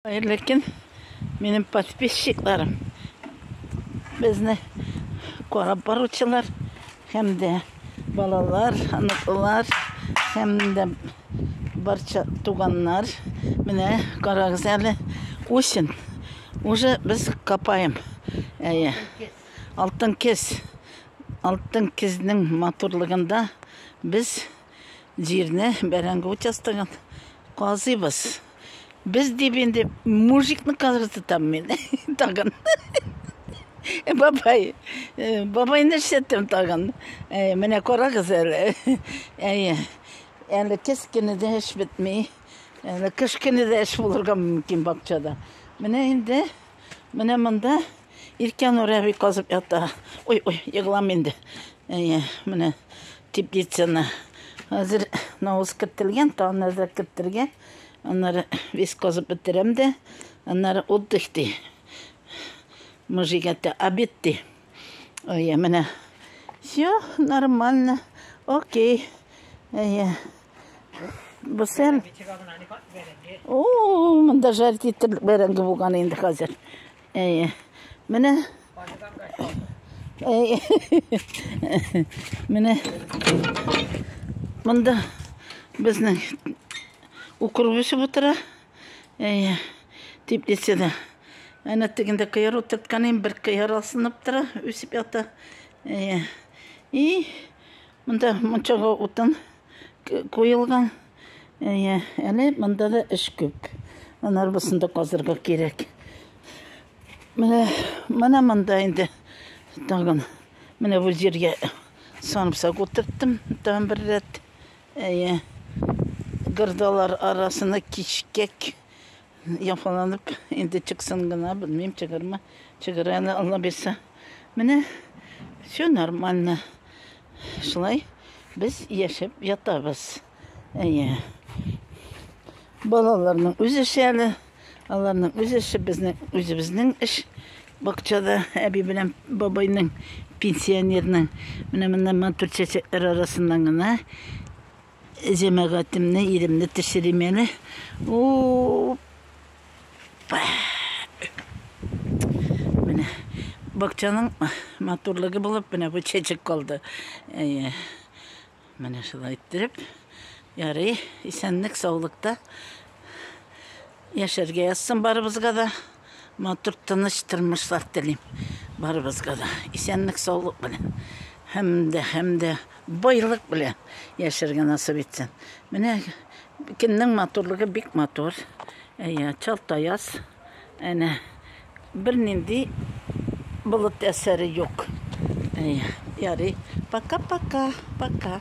Хәерле көн, минем подписчикларым. Безне карап баручылар һәм дә балалар, оныклар һәм дә барча туганнар. Менә карагыз әле, үсен. Уже без капаем. Әйе. Алтын кез. Алтын кезнең матурлыгында без җирне бәрәңге участогын казыйбыз. Без дип инде мужикны кызгыртам мин тагын. Э, бабай, э, бабай нәрсәттем тагын. Э, менә карагыз әле. Әйе. Әле кез кенә дә эш бетми. Әле кыш кенә дә эш булырга мөмкин бакчада. Менә инде менә монда Иркен Урәби казып ята. Ой, ой, егылам инде. Әйе, менә теплицаны. Хәзер навыз кертелгән, тагын нәрсә кертелгән. Аннары весь казып бетерәм дә, аннары отдых ди. Мыжигәтә обед ди. Әйе, менә. Все нормально. Окей. Әйе. Бу сәл. О, монда жарить итеп бәрәңге булган инде хәзер. Әйе. Менә Әйе. Менә монда безнең укроп үсеп утыра. Әйе. Теплицада. Әнә тегендә кыяр утыртканым, бер кыяр асынып тора, үсеп ята. Әйе. И Монда мунчага утын куелган. Әйе, әле монда да эш күп. Аны арбасын да казырга кирәк. Менә, менә монда инде тагын. Менә бу җиргә сарымсак утырттым, тагын бер рәт. Әйе. Гырдалар арасына кичкәк Яфаланып, инде чыксын гына, белмим, чыгармы, чыгар әле, Алла бирсә. Менә все нормально. Шулай без яшәп ятабыз. Әйе. Балаларның үз эше әле, аларның үз эше, безнең үзебезнең эш. Бакчада әби белән бабайның пенсионерның менә монда матур чәчәкләр арасыннан гына Җәмәгатемне, илемне төшерим әле. Опа! Менә бакчаның матурлыгы булып, менә бу чәчәк калды. Әйе. Менә шулай иттереп. Ярый, исәнлек, саулыкта. Яшәргә язсын барыбызга да. Матур тыныч тормышлар телим барыбызга да. Исәнлек саулык белән һәм дә һәм дә байлык белән яшәргә насыйп итсен. Менә кемнең матурлыгы бик матур. Әйе, Чалтаяз. Әнә бернинди болыт әсәре юк. Әйе, ярый. Пока-пока. Пока.